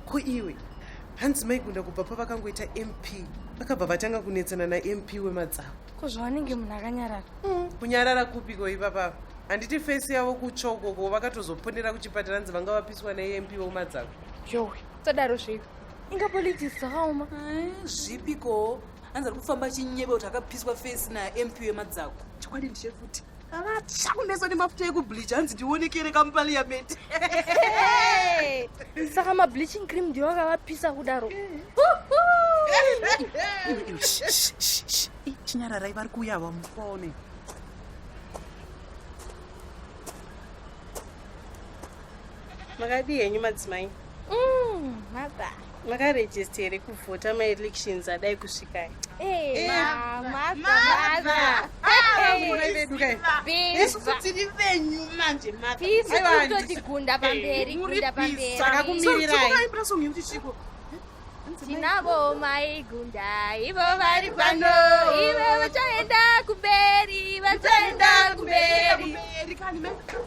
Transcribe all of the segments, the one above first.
ko iwe hanzi maigunda kubva pavakangoita mp vakabva vatanga kunetsana namp wemadzavo ko zvavanenge munhu akanyarara mm, kunyarara kupiko ipapapa handiti fesi yavo kutsvokoko vakatozoponera kuchipatara nzi vanga vapiswa namp wemadzavo yowe tadaro zveiko inga politics dzakaoma zvipiko hanzi ari kufamba achinyeba kuti akapiswa face namp wemadzako chokwadi ndiche futi akatsva kumeso nemafuta ekubleach hanzi ndionekere kamuparliament saka mableaching cream ndiyo akavapisa kudaro chinyararai vari kuuya vamufaone makadii henyu madzimai mm, maba makarejista here kuvhota maelections adai kusvikai tiri venyu manje matotigunda pamberi gunda pamberisaka kumirirai tinavo maigunda ivo vari pano ivo vachaenda kumberi vachaenda kumberi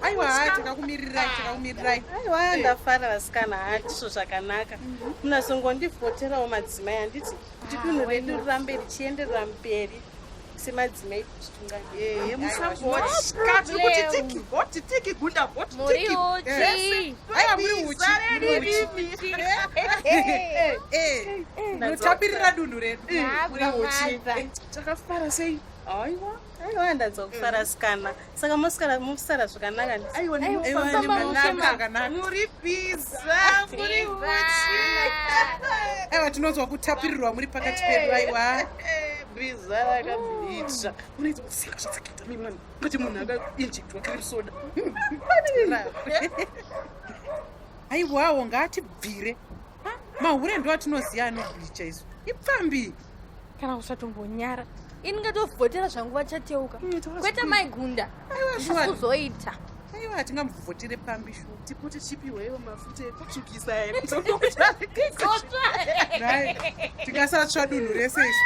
aiwa takakumirirai takakumirirai aiwa ndafara vasikana hatisvo zvakanaka munazongondivhoterawo madzimai handiti kuti dunhu redu rirambe richienderera mberi semadzimai eh, mutapirira dunhu redu takafara sei aiwa aiwa ndanzwa kufara sikana saka mosara musara zvakanaka muri biza muri uchi aiwa tinonzwa kutapirirwa muri pakati pedu aiwa biza rakabicha unoita kusika zvasakita mimwana kuti munhu akainjektwa cream soda aiwawo ngaatibvire mahure ndo atinoziva anobhicha isu ipfambi kana kusatombonyara ini ngatovhotera zvangu vachateuka mm, kwete maigunda kuzoita aiwa hatingamuvhotire pambi shu tikuti chipiwewo mafuta ekutsvukisa tikasatsva dunhu rese isu